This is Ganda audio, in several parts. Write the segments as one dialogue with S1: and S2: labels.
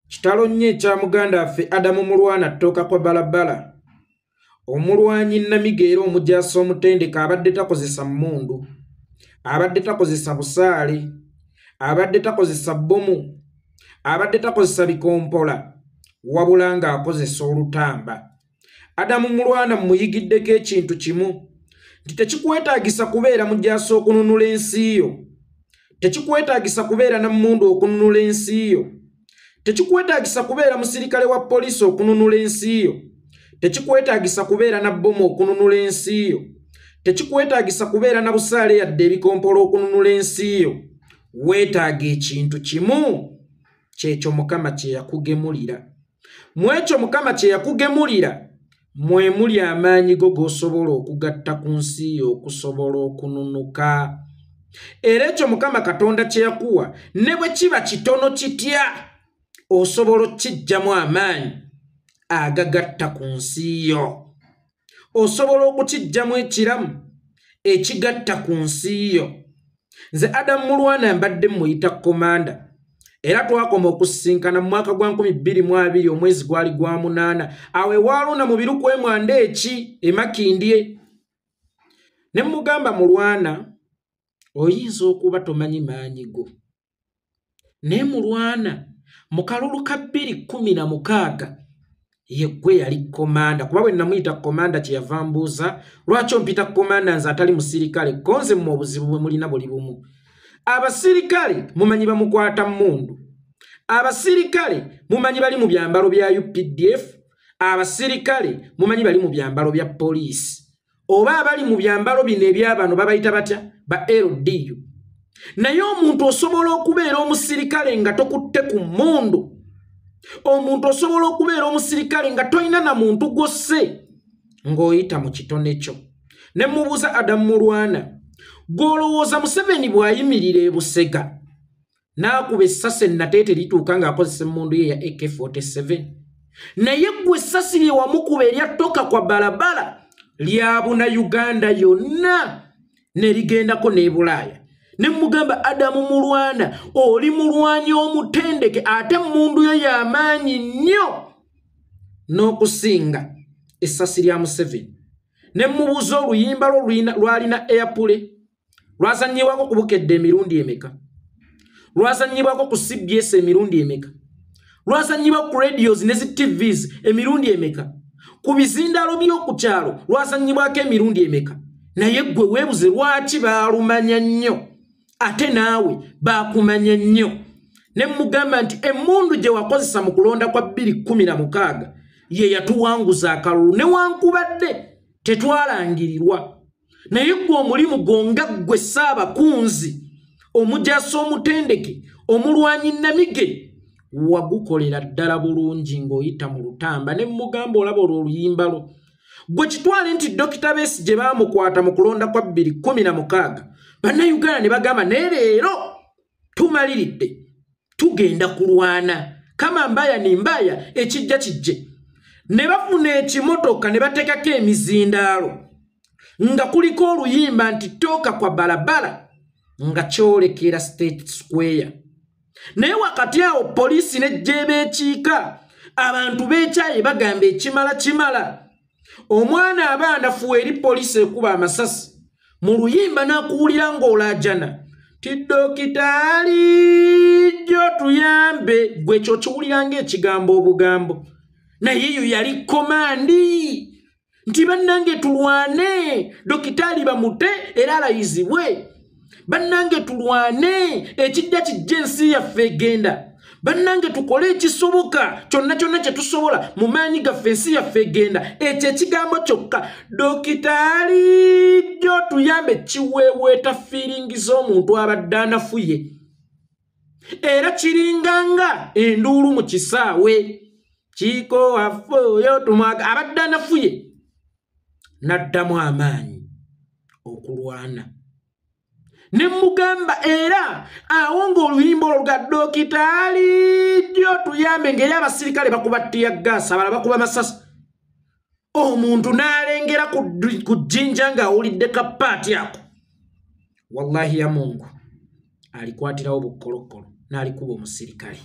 S1: kitalo nnyo ekya muganda affe adamu mulwana ttooka kwa balabala omulwanyi namiga era omujaasi omutendeka abadde takozesa mmundu abadde takozesa busaale abadde takozesa bbomu abadde takozesa bikompola wabula ng'akozesa olutamba adamu mulwana mumuyigiddeko ekintu kimu nti tekikwetagisa kubeera mujasa okununula ensi yo tekikwetagisa kubeera namundu okununula ensi yo tekikwetagisa kubeera musirikale wa poliisi okununula ensi yo tekikwetagisa kubeera na bbomu okununula ensi yo tekikwetagisa kubeera na busaale yadde ebikompola okununula ensi yo weetaaga ekintu kimu kyekyo mukama kyeyakugemulira mu ekyo mukama kye yakugemulira mwe muli amaanyi go g'osobola okugatta ku nsi yo okusobola okununuka era ekyo mukama katonda kye yakuwa ne bwe kiba kitono kitya osobola okukijjamu amaanyi agagatta ku nsi yo osobola okukijjamu ekiramu ekigatta ku nsi yo nze adamu mulwana mbadde muyita komanda era twakoma okusisinkana mu mwaka gwa 222 omwezi gwali gwa munaana awo ewaaluna mu biru kwemwanda eki emakindye ne mugamba mulwana oyinza okuba tomanyi maanyi go naye mulwana mu kalulu ka bbiri kkumi na mukaaga yeggwe yali komanda kuba bwe namuyita komanda kye yava mbuuza lwaki ompita komanda nze atali musirikale konze mu obuzibu bwe mulina buli bumu abasirikale mumanyi bamukwata mundu abasirikale mumanyi bali mu byambalo bya updf abasirikale mumanyi bali mu byambalo bya poliisi oba abali mu byambalo bino ebyabano babayita batya ba ldu naye omuntu osobola okubeera omusirikale nga tokutte ku mundu omuntu osobola okubeera omusirikale nga tolina na muntu gwosse ng'oyita mu kitone kyo ne mubuuza adamu mulwana gw'olowooza museveni bw'ayimirira ebusega n'akuba essasi ennateete lituuka ng'akozesa emmundu ye ya ak47 naye ggwe essasi lye wamukuba erya toka kwa balabala lyabuna uganda yonna ne ligendako n'ebulaaya ne mugamba adamu mulwana oli mulwanyi omutendeke ate emmundu yo y'amaanyi nnyo n'okusinga essasi lya museveni ne mubuuza oluyimba lwo lwalina airpule lwazannyibwako ku bukedde emirundi emeka lwazannyibwako ku cbs emirundi emeka lwazannyibwa ku radios ne zi tvs emirundi emeka ku bizindaalo by'oku kyalo lwazannyibwako emirundi emeka naye ggwe weebuze lwaki baalumanya nnyo ate naawe baakumanya nnyo ne mugamba nti emmundu gye wakozesa mu kulonda kwa 216 ye yatuwanguza akalulu newankubadde tetwalangirirwa naye gwe omulimu gwo nga ggwe ssaabakunzi omujaasi omutendeke omulwanyi namige wagukolera ddala bulungi ng'oyita mu lutamba ne mugamba olaba olwo oluyimba lwo gwe kitwale nti dokita beesi gye baamukwata mu kulonda kwa bbiri kumi na mukaaga bannayuganda ne bagamba naye leero tumaliridde tugenda kulwana kama mbaya ni mbaya ekijja kijje ne bafuna ekimotoka ne batekako emizindaalo nga kuliko oluyimba nti tooka kwa balabala nga kyolekera state square naye wakati awo poliisi nejjeeba ekiika abantu beekyaye bagamba ekimala kimala omwana aba anafuwa eri poliisi ekuba amasasi mu luyimba n'akuwulira ng'olaajana ti dokitaali jjo tuyambe gwe ekyo kiwulira ng'ekigambo obugambo naye eyo yali komandi nti bannange tulwane dokitaali bamute era alayizibwe bannange tulwane ekijja kijja ensi yaffe egenda bannange tukole ekisoboka kyonna kyonna kye tusobola mu maanyi gaffe ensi yaffe egenda ekyo ekigambo kyokka dokitaalijo tuyambe kiweeweeta fiiringi z'omuntu abadde anafuye era kiringanga enduulu mu kisaawe kiiko waffe oyo tumwaga abadde anafuye n'addamu amaanyi okulwana ne mugamba era awo ng'oluyimba olwo ga dokitaali ddyo tuyambe ngeri abasirikale bakuba ttiya gaasi abala bakuba masasi omuntu n'alengera ku jjinja ng'awulidde kapaati ako wallahi ya mungu alikwatirawo bukkolokkolo n'alikuba omusirikale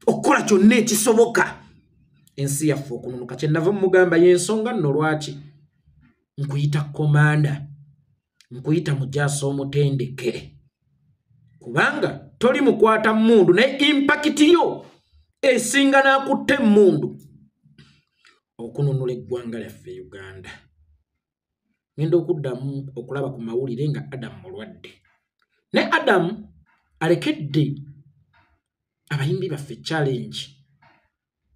S1: okukola kyonna ekisoboka ensi yaffe okununuka kyenava mumugamba yensonga nno lwaki nkuyita komanda nkuyita mujaasi omutendeke kubanga toli mukwata mundu naye impakiti yo esinga n'akutte emmundu okununula eggwanga lyaffe uganda ngenda okuddamu okulaba ku mawulire nga adamu mulwadde naye adamu alekedde abayimbi baffe challenge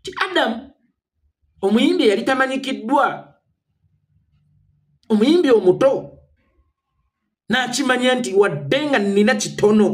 S1: ti adamu omuyimbi eyali tamanyikiddwa omuyimbi omuto n'akimanya nti wadde nga nnina kitono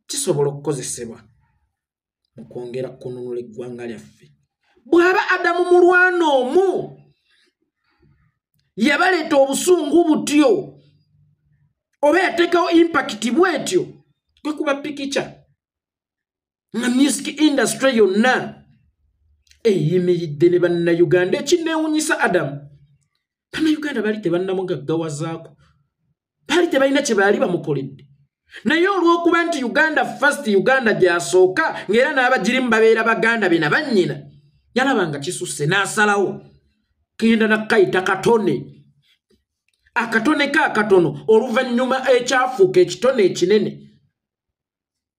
S1: kisobola okukozesebwa mu kwongera kununula eggwanga lyaffe bw'aba adamu mulwana omu yabaleeta obusungu butyo oba yateekawo impakiti bwetyo kwe kuba pikica nga music industry yonna eyimiridde ne bannayuganda ekinneewunyisa adamu bannayuganda bali tebannamugaggawazaako baali tebalina kye baali bamukoledde naye olw'okuba nti uganda fast uganda gyasooka ng'era n'abagirimu babeera baganda be na bannyina yalaba nga kisusse n'asalawo kenda nakukayita katone akatone ka katono oluvannyuma ekyafuuka ekitone ekinene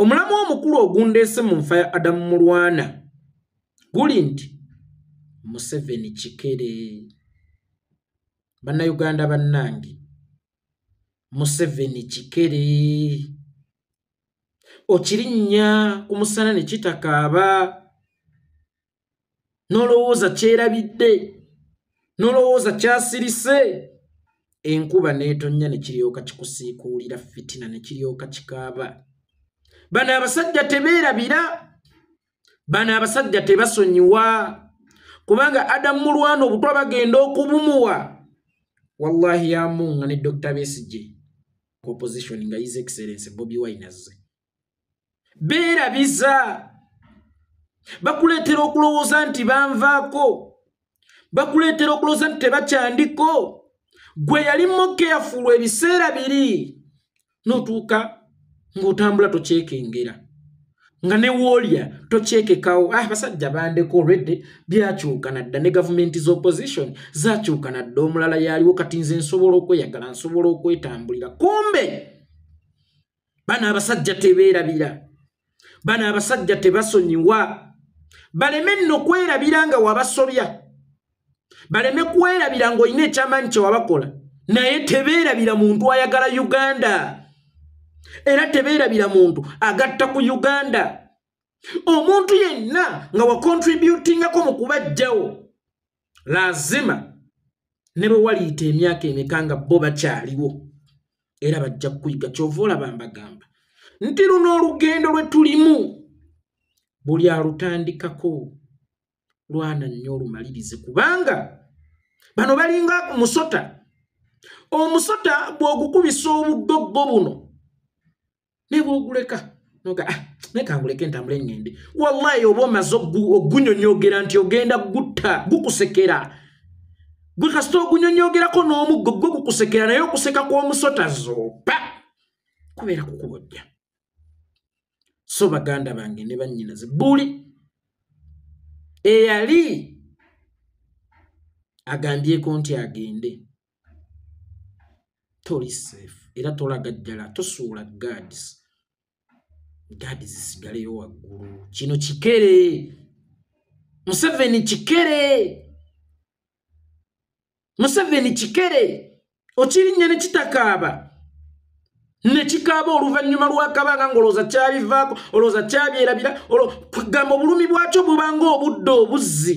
S1: omulamwa omukulu ogundeese mu nfa ya adamu mulwana guli nti museveni kikere bannayuganda bannange museveni kikere okirinnya ku musana ne kitakaaba nolowooza kyerabidde nolowooza kyasirise enkuba netonnya ne kiryoka kikusiikuulira fitina ne kiryoka kikaaba bano abasajja tebeerabira bano abasajja tebasonyiwa kubanga adamu mulwana obutwa bagenda okubumuwa wallahi yamunga ne dr besije opposition nga his excellence bobi wine azze beerabiza bakuleetera okulowooza nti banvaako bakuleetera okulowooza nti tebakyandiko gwe yali mokeyafulu ebiseera biri notuuka ng'otambula tokyekengera nga newoolya tokyekekawo ah basajja bandeko olwedde byakyuka nadda ne gavumenti z'opposition zakyuka nadda omulala yaliwo kati nze nsobola okweyagala nsobola okwetambulira kumbe bano abasajja tebeerabira bano abasajja tebasonyiwa baleme nno kwerabira nga wabasobya baleme kwerabira ng'olina ekyamanyi kyewabakola naye tebeerabira muntu ayagala uganda era tebeerabira muntu agatta ku uganda omuntu yenna nga wakontributingako mu kubajjawo lazima ne bwe waliyita emyaka emeka nga bo bakyaliwo era bajja kuyiga kyova olaba mbagamba nti luno olugendo lwe tulimu buli alutandikako lwana nnyo olumalirize kubanga bano balinga musota omusota bw'ogukubisa obuddoggo buno naye bwoguleka noga ah, naye kanguleke ntambule ngende wallahi oba omaze ogunyonyogera nti ogenda gutta gukusekera gwe kasita ogunyonyogerako n'omuggo gwe gukusekera naye okuseka kw'omusota zoopa kubeera kukubojja so baganda bange ne bannyinaze buli eyali agambyeko nti agende toli safe era tolagajjala tosuula guards guards zisigaleyo waggulu kino kikere museveni kikere museveni kikere okirinnya ne kitakaaba ne kikaaba oluvannyuma lwakabanga ngaolowooza kyabivaako olowooza kyabyerabira gamba obulumi bwakyo bubanga obudde obuzzi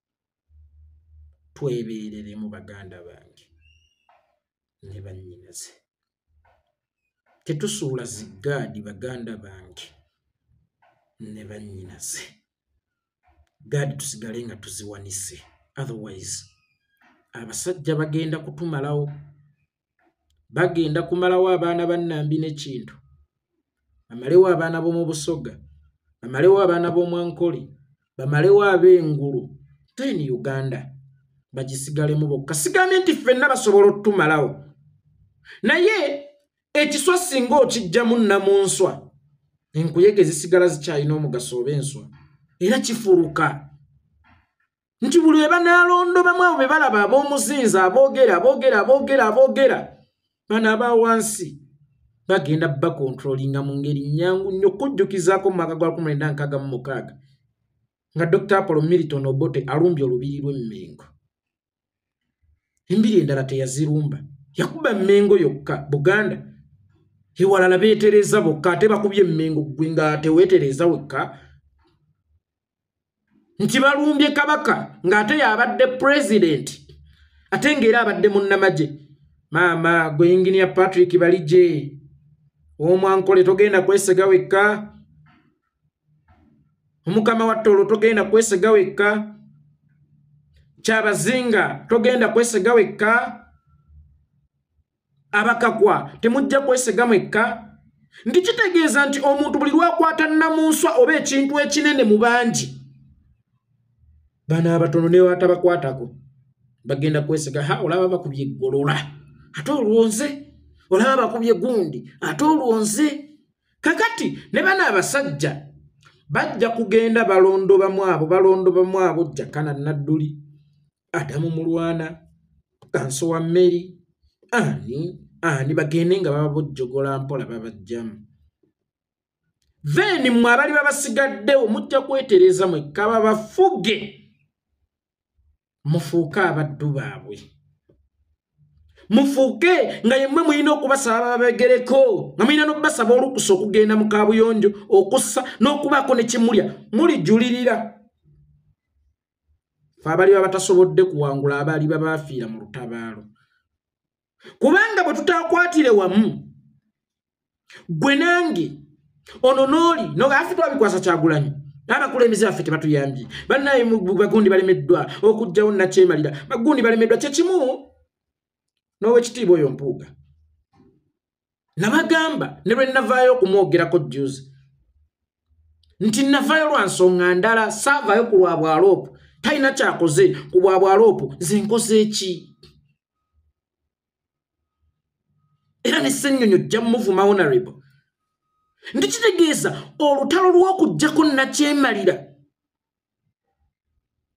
S1: twebeereremu baganda bange ne bannyinaze tetusuula ziggaadi baganda bange ne bannyinaze gaadi tusigale nga tuziwanise otherwise abasajja bagenda kutumalawo bagenda kumalawo abaana ba nambi nekintu bamalewo abaana b'omu busoga bamalewo abaana b'omwankoli bamalewo ab'engulu ten uganda bagisigalemu bokka sigambye nti ffenna basobola otutumalawo naye ekiswa singa okijjamu namunswa enkuyege zisigala zikyalina omugaso oba enswa era kifuruka nti buli bwe banaalondobamu abo be balaba ab'omuzinzi aboogera aboogera aboogera aboogera bano aba wansi bagenda bakontrolinga mu ngeri nnyangu nnyo okujjukizaako mu maka gwa kumwenda nkaaga mu mukaaga nga dr apollo milton obote alumbye olubiri lw'emmengo embiri endala teyazirumba yakuba emmengo yokka buganda ewalala beetereeza bokka ate bakubye emmengo ggwe nga teweetereeza wekka nti balumbye kabaka ng'ate y'abadde pulezidenti ate ng'era abadde munnamagye maama gwe yinginiya patrick baligye omwankole togenda kwesega wekka omukama watte olwo togenda kwesega wekka kyabazinga togenda kwesega wekka abakagwa temujja kwesega mwekka nti kitegeeza nti omuntu buli lwakwata namunswa oba ekintu ekinene mu bangi bana abatono newatabakwatako bagenda kwesega ha olaba bakubye eggolola ate olwonze olaba bakubye gundi ate olwonze kakati ne bana abasajja bajja kugenda balondobamu abo balondobamu abo jjakana nadduli adamu mulwana kanso wa mmeri ani ani bagende nga bababojjogola mpola babajjamu then mwe abali babasigaddewo mujja kwetereza mwekka babafuge mufuuke abaddu baabwe mufuuke nga yemmwe mulina okubasaba bababegereko nga mulina n'okubasaba olukusa okugenda mu kabuyonjo okussa n'okubaako ne kimulya mulijulirira fe abaliba batasobodde kuwangula abaliba bafiira mu lutabaalo kubanga bwe tutakwatire wamu gwe nange ono nooli nogafe twabikwasa kyagulanyi abakulembeze baffe tebatuyambye bannaye bagundi balemeddwa okugjawo nakyemalira bagundi balemeddwa kyekimu n'owekitiibwa oyo mpuuga nabagamba ne lwe navaayo okumwogerako juzi nti navaayo lwa nsonga ndala saavaayo ku lwa bwaloopu talina kyakoze ku bwa bwaloopu nze nkoze eki era ne ssennyonyo jja muvuma honorable nti kitegeeza olutalo lw'okugyako nakyemalira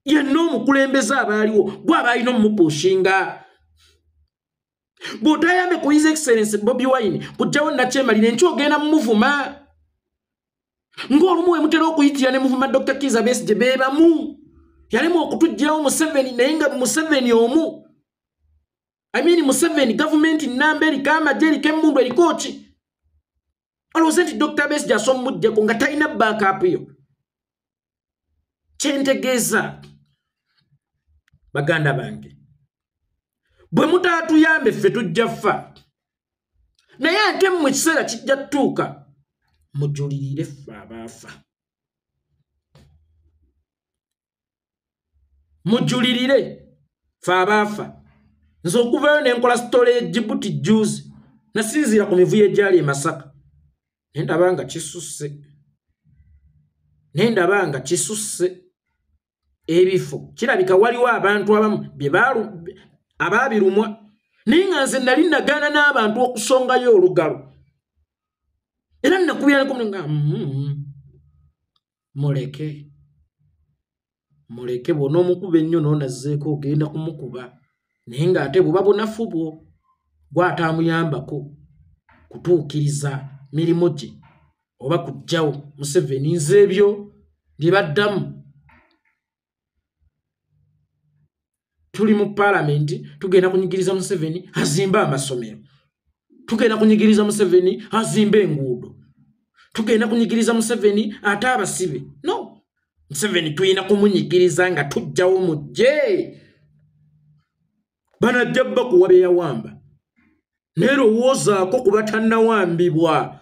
S1: yenna omukulembeze abaaliwo gwe abaalina omumupushinga bw'otayambe ku his excellence bobi wine kujjawo nakyemalira enkyo ogenda mumuvuma ng'olumu we mutera okuyitira ne muvuma dr kiza besije be bamu yalemu okutuggyirawo museveni naye nga museveni omu i mean museveni gavumenti nnamba eriko amagye eriko emmundu eriko ki olowooza nti dr besi gyasa omujjeko nga talina backup yo kyentegeeza baganda bange bwe mutaatuyambe ffe tujja ffa naye ate mu kiseera kijja tutuuka mujulirire ffe abaafa mujulirire fe abaafa nze okuvayo nenkola sitole ejibuti juzi nasinziira ku mivuyo egyali emasaka naye ndaba nga kisusse naye ndaba nga kisusse ebifo kirabika waliwo abantu abamu abaabirumwa naye nga nze nali nagaana n'abantu okusongayo olugalo era nakubyaneko nga mm-hmm. muleke muleke bwona omukuba ennyo nonazeeko ogenda kumukuba naye ngaate buba bunafu bwo gwataamuyambako kutuukiriza mirimu gye oba kujjawo museveni nze ebyo byebaddamu tuli mu palamenti tugenda kunyigiriza museveni azimbe amasomero tugenda kunyigiriza museveni azimbe enguudo tugenda kunyigiriza museveni ate abasibe no museveni tulina kumunyigiriza nga tujjawo mujje banajja bakuwa byeyawamba naye lowoozaako kuba tannawambibwa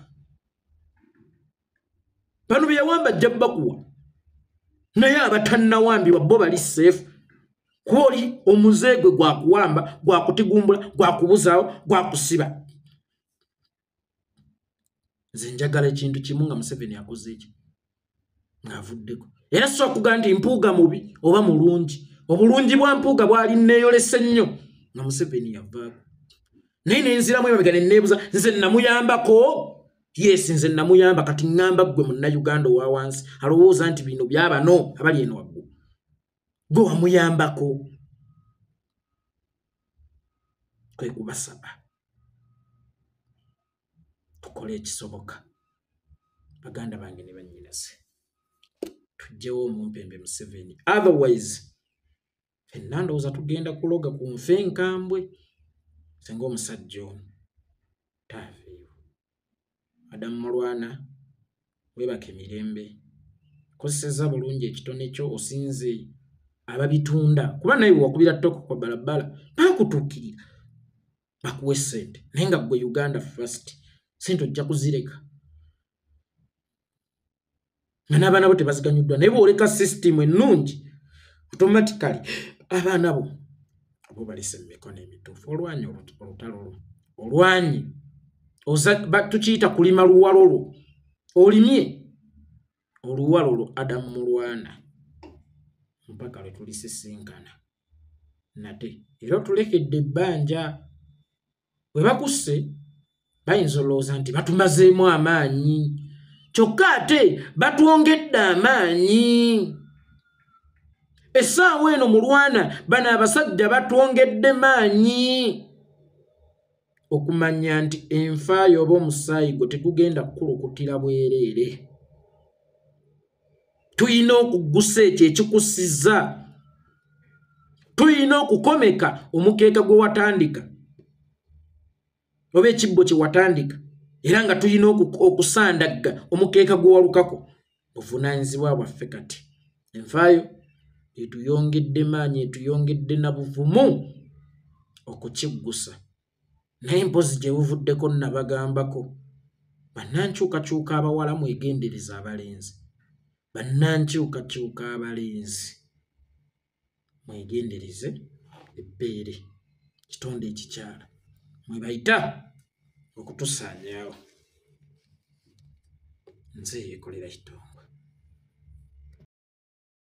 S1: bano byeyawamba ajja bakuwa naye abatannawambibwa bo bali seefu kuba oli omuze gwe gwakuwamba gwakutigumbula gwakubuzaawo gwakusiba nze njagala ekintu kimu nga museveni akoze eki ng'avuddeko era si okuga nti mpuuga mubi oba mulungi obulungi bwa mpuuga bwali nneeyolese nnyo nga museveni yavaako naye nenziramu emabega neneebuza nze namuyambako yes nze namuyamba kati ŋŋamba ggwe munnauganda owa wansi alowooza nti bino byabano abali eno waggulu gwe wamuyambako kwe kubasaba tukole ekisoboka baganda bange ne bannyinaze tujjewo omumpembe museveni otherwise fenna ndowooza tugenda kuloga ku nfe enkambwe singa omusajja omu taaveewo madamu mulwana webaka emirembe kozeseza bulungi ekitone kyo osinze ababitunda kuba naye wakubira toko kwa balabala bakutukirira bakuwe sente naye nga gwe uganda fast sente ojja kuzireka nga n'abaana bo tebaziganyuddwa naye bwoleka sisitimu ennungi automatically abaana bo abo balese mu mikono emituufu olwanyi olutalo lwo olwanyi tukiyita kulima luwalo lwo olimye oluwalo lwo adamu mulwana mpaka lwe tulisisinkana nate era otulekedde ebbanja bwe bakusse bayinza olowooza nti batumazeemu amaanyi kyokka ate batwongedde amaanyi essaawa eno mu lwana bano abasajja batwongedde maanyi okumanya nti enfa yooba omusaayi gwe tegugenda kukulukutira bwereere tulina okuggusa ekyo ekikusiza tulina okukomeka omukeeka gwe watandika oba ekibbo kye watandika era nga tulina okusandagga omukeeka gwe walukako buvunaanyizibwa bwaffe kati enfayo etuyongedde maanyi etuyongedde na buvumu okukiggusa naye mpozi gye buvuddeko nabagambako bannankyukakyuka abawala mwegendereza abalenzi bannankyukakyuka abalenzi mwegendereze ebbeere kitonde ekikyala mwebayita okutusaanyaawo nze yekolera kitongwa